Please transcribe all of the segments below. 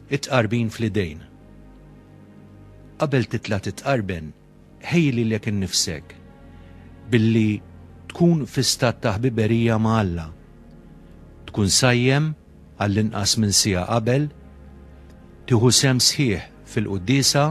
It-tqarbin fl-idejn. Qabel titla' titqarben, ħejji lilek innifsek billi tkun fi stat ta' ħbiberija ma' Alla. Tkun sajjem għall-inqas minn siegħa qabel, tieħu sehem sħiħ fil-quddiesa,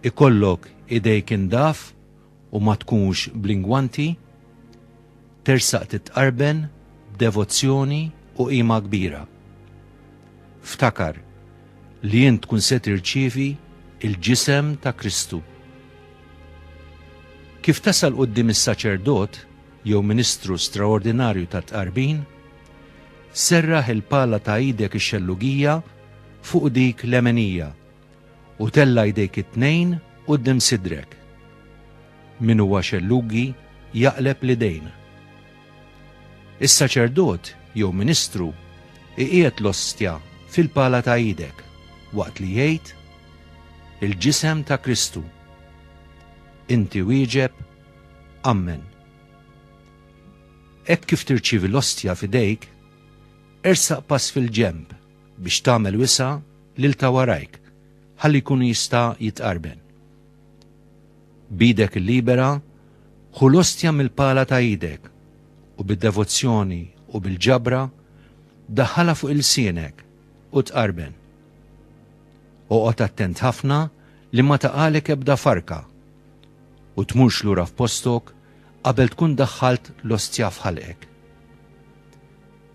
ikollok idejk indaf u ma tkunx bl-ingwanti, tersaq titqarben b'devozzjoni u qima kbira. Ftakar li int tkun se tirċievi l-Ġisem ta' Kristu. Kif tasal quddiem is-saċerdot jew ministru straordinarju tat-tqarbin, serraħ il-pala ta' idek ix-xellugija fuq dik lemenija, u tella' jdejk it-tnejn quddiem sidrek. Min huwa xellugi jaqleb l-idejn. Is-saċerdot jew ministru iqiegħed l-ostja fil-pala ta' idek waqt li jgħid, Il-ġisem ta' Kristu. Inti wieġeb, Ammen. Hekk kif tirċievi l-ostja f'idejk, ersaq pass fil-ġenb biex tagħmel wisa' lil ta' warajk ħalli jkun jista' jitqarben. B'idek il-libera ħu l-ostja mill-pala ta' idek u bid-devozzjoni u bil-ġabra daħħalha fuq ilsienek u tqarben. Oqgħod attent ħafna li ma taqagħlek ebda farka u tmurx lura f'postok qabel tkun daħħalt l-ostja f'ħalqek.